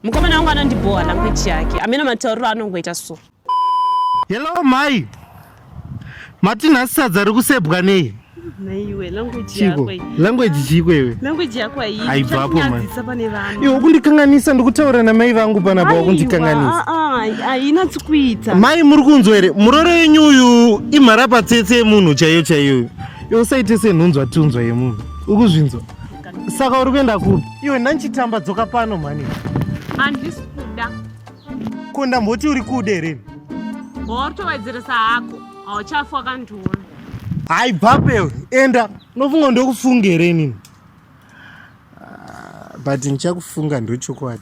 Mukomana wangu anondibhowa language yake. Ameno matauriro anongoita so. Hello mai. Mati nhasi sadza rikusebwa nei? Naiwe language yako. Language chiko iwe. Language yako haiyi. Haibvapo mai. Iwe ukundikanganisa ndikutaura na mai vangu pana bwa ukundikanganisa. Ah ah haina tsikuita. Mai muri kunzwa here? Muroro yenyu uyu imhara patsetse yemunhu chaiyo chaiyo. Iwe usaite senhunzwa tunzwa yemunhu. Ukuzvinzwa? Saka uri kuenda kupi? Iwe ndanchitamba dzoka pano mhani. Handisi kuda. Ko ndamboti uri kude here? Wakutovadzirisa hako. Hauchafa wakandiona. Hayi bhape enda. Unofunga ndokufunga here inini? Ah, but ndichakufunga ndochokwadi.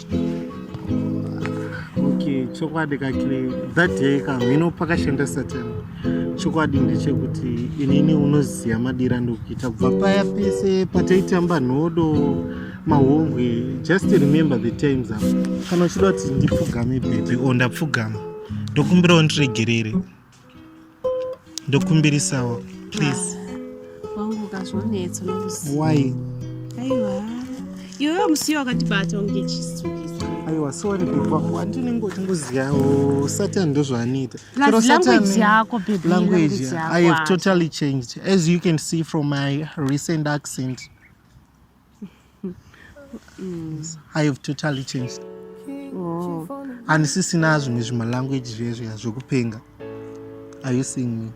okay chokwadi kakile that day kamhino pakashanda satan chokwadi ndechekuti inini unoziva madira ndokuita kubva paya pese pataitamba nhodo mahombwe just remember the times apa kana uchida kuti ndipfugame bebe o ndapfugama ndokumbirawo ndiregerere ndokumbirisawo please wangu ukazvonetso nokuziva why aiwa iwewe musiyo wakatibata unge chisu aiwa sorry bebwangu andinenge uchingoziyawo satan ndozvaanoita language i have totally changed as you can see from my recent accent Mm. I have totally changed. Oh. Handisisina zvimwe zvima language zvezviya zvekupenga. Are you seeing me?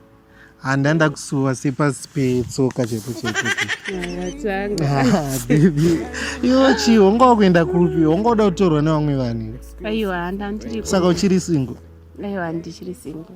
Handa ndakusuwa sepasi petsoka chete chete. Iwe chii wonga wakuenda kupi? Wonga uda kutorwa nevamwe vanhu. Aiwa handa ndiri. Saka uchiri single? Aiwa ndichiri single.